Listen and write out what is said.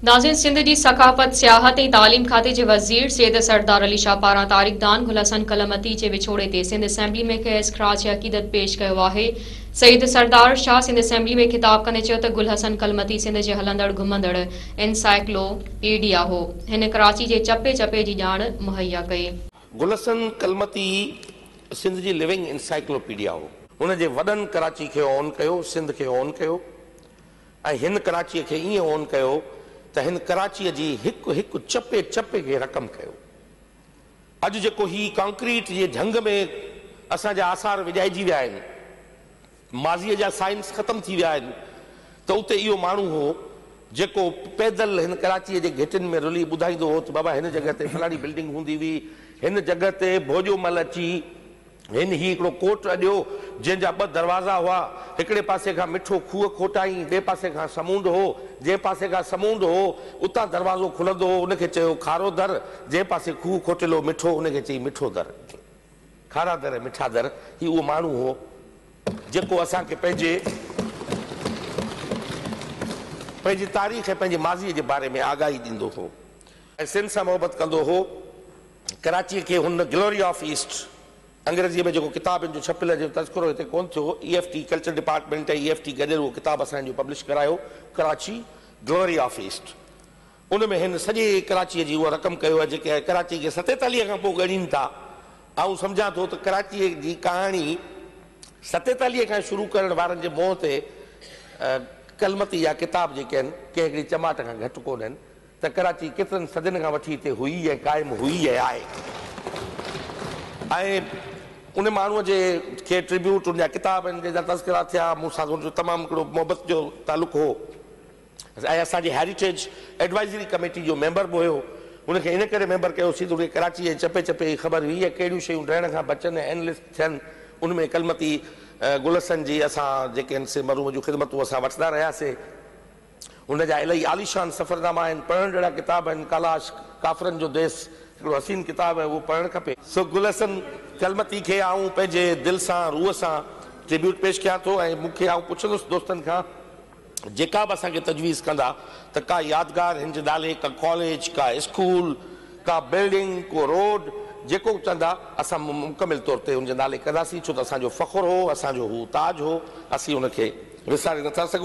ناظرين سنڌ جي ثقافت، سياحت ۽ تعليم کاتي جي وزير سيد سردار علي شاهه پاران تاريخ دان گل حسن ڪلمتي جي وڇوڙي تي سنڌ اسيمبلي ۾ کيس خراج عقيدت پيش ڪيو آهي سيد سردار شاهه سنڌ اسيمبلي ۾ خطاب ڪندي چيو ته گل حسن ڪلمتي سنڌ جي هلندڙ گهمندڙ انسائيڪلو پيڊيا هو هن ڪراچي جي چپي چپي جي ڄاڻ مهيا ڪئي. گل حسن ڪلمتي سنڌ جي لونگ انسائيڪلو پيڊيا هو. هن جي وڏن ڪراچي کي اون ڪيو سنڌ کي اون ڪيو. ۽ هن ڪراچيء کي ائين اون ڪيو ته هن ڪراچيء جي هڪ هڪ چپي چپي کي رقم ڪيو. اڄ جيڪو هي ڪانڪريٽ جي جهنگ ۾ اسان جا آثار وڄائجي ويا آهن، ماضيء جا سائنس ختم ٿي ويا آهن ته اتي اهو ماڻهو هو جيڪو پيدل هن ڪراچيء جي گهٽين ۾ رلي ٻڌائيندو هو ته بابا هن جڳهه تي فلاڻي بلڊنگ هوندي هئي، هن جڳهه تي ڀوڄو مل اچي هن هي هڪڙو ڪوٽ اڏيو، جنهن جا ٻه دروازا هئا. هڪڙي پاسي کان مٺو کوهه کوٽائين، ٻئي پاسي کان سمونڊ هو. جنهن پاسي کان سمونڊ هو، اتان دروازو کلندو هو، ان کي چيو کارو در، جنهن پاسي کوهه کوٽيل هو مٺو، ان کي چئي مٺو در. کارا در ۽ مٺا در، هي اهو ماڻهو هو، جيڪو اسان کي پنهنجي پنهنجي تاريخ ۽ پنهنجي ماضيء جي باري ۾ آگاهي ڏيندو هو. ۽ سنڌ سان محبت ڪندو هو. ڪراچيء کي هن گلوري آف ايسٽ، انگريزيء ۾ جيڪو ڪتاب ان جو ڇپيل جنهن جو تذڪرو هتي ڪونه ٿيو، A F T culture department ۽ A F T گڏيل اهو ڪتاب اسان جو پبلش ڪرايو، ڪراچي، گلوري آف ايسٽ. ان ۾ هن سڄي ڪراچيء جي اها رقم ڪيو آهي جيڪي ڪراچيء کي ستيتاليهه کان پوء ڳڻين ٿا. آئون سمجهان ٿو ته ڪراچيء جي ڪهاڻي ستيتاليهه کان شروع ڪرڻ وارن جي منهن تي ڪلمتي يا ڪتاب جيڪي آهن ڪنهن هڪڙي چماٽ کان گهٽ ڪونه آهن. ته ڪراچي ڪيترن صدين کان وٺي اتي هئي ۽ قائم هئي ۽ آهي ۽ ان ماڻهوء جي کي ٽريبيوٽ ان جا ڪتاب آهن جن جا تذڪرا ٿيا مون سان هن جو تمام هڪڙو محبت جو تعلق هو ۽ اسان جي هيريٽيج ايڊوائزري ڪميٽي جو ميمبر به هيو هن کي ان ڪري ميمبر ڪيوسين ته هن کي ڪراچي جي چپي چپي جي خبر هئي ۽ ڪهڙيون شيون ڊهڻ کان بچن ۽ انلسٽ ٿين ان ۾ ڪلمتي گلحسن جي اسان جيڪي آهن سي مرحوم جون خدمتون اسان وٺندا رهياسين هن جا الائي عاليشان سفرناما آهن، پڙهڻ جهڙا ڪتاب آهن، ڪالاش، ڪافرن جو ديس، هڪڙو حسين ڪتاب آهي، اهو پڙهڻ کپي. سو گل حسن ڪلمتي کي آئون پنهنجي دل سان، روح سان ٽريبيوٽ پيش ڪيان ٿو ۽ مون کي آئون پڇندس دوستن کان جيڪا به اسان کي تجويز ڪندا ته ڪا يادگار هن جي نالي، ڪا ڪاليج، ڪا اسڪول، ڪا بلڊنگ، ڪو روڊ، جيڪو به چوندا اسان مڪمل طور تي هن جي نالي ڪنداسين، ڇو ته اسان جو فخر هو، اسان جو هو تاج هو، اسين هن کي وساري نٿا سگهون.